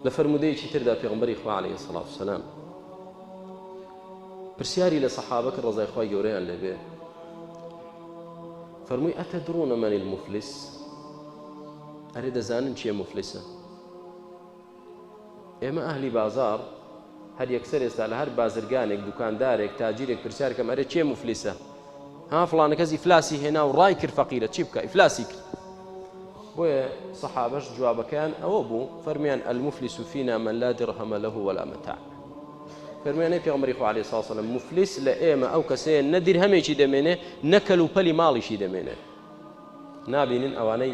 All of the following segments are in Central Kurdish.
لە فەرموودەیەکی تردا پێغمبەری خوا علیه الصلاة والسلام پرسیاری لە سەحابە کە ڕزای خوای گەورەیان لێبێ فەرمووی ئەتە دڕونە مەنی المفلس ئەرێ دەزانن چیە مفلسە ئێمە ئەهلی بازار هەر یەکسەر ئێستا لە هەر بازرگانێک دوکاندارێک تاجیرێک پرسیار کەم ئەرێ کێ مفلیسە ها فلانە کەس ئیفلاسی هێنا و ڕای کرد فەقیرە چی بکە ئیفلاسی کرد بۆیە سەحابەش جوابەکەیان ئەوە بوو فەرمیان ئەلمفلی سوفینا من لا درهەمە لە ولا مەتا فەرمیانەی پێمەری خو عليه ساسەلم مفلیس لە ئێمە ئەو کەسەیە نە درهەمێکی دەمێنێ نەکەل و پەلی ماڵیشی دەمێنێ نابینن ئەوانەی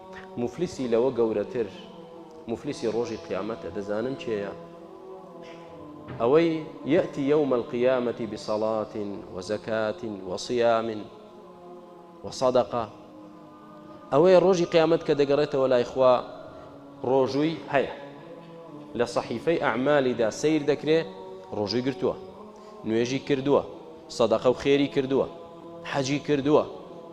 موفلیسی لەوە گەورەتر موفلیسی ڕۆژی قیامەتە دەزانن چێە ئەوەی یەتی یوم القیامەتی بسەڵات وەزەکات وەسیامن وەسەدەقە ئەوەیە ڕۆژی قیامەت کە دەگەڕێتەوە لای خوا ڕۆژووی هەیە لە صحیفەی ئەعمالیدا سیر دەکرێ ڕۆژووی گرتووە نوێژی کردووە سەدەقە و خێری کردووە حەجی کردووە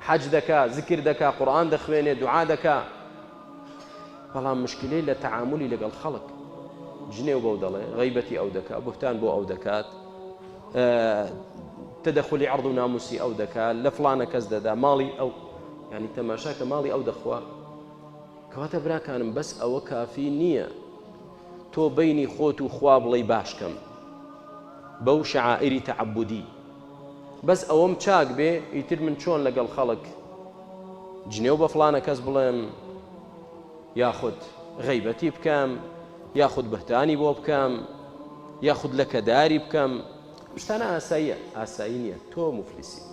حەج دەکا زکر دەکا قورئان دەخوێنێ دوعا دەکا بەڵام مشکلەی لە تەعاملی لەگەڵ خەڵک جنێو بەو دەڵێ غیبەتی ئەو دەکا بهتان بۆ ئەو دەکات تدخلی عرض و ناموسی ئەو دەکا لە فلانە کەس دەدا ماڵی ئەو ینی تەماشا کە ماڵی ئەو دەخوا کەواتە براکانم بەس ئەوە کافی نییە تۆ بینی خۆت و خوا بڵی باشکەم بەو شعائری تعبدی بەس ئەوەم چاک بێ ئیتر من چۆن لەگەڵ خەڵک جنێو بە فڵانە کەس بڵێم یاخود غەیبەتی بکەم یاخود بهتانی بۆ بکەم یاخود لەکەداری بکەم شتانە ئاساییە ئاسایی نییە تۆ مفلیسیت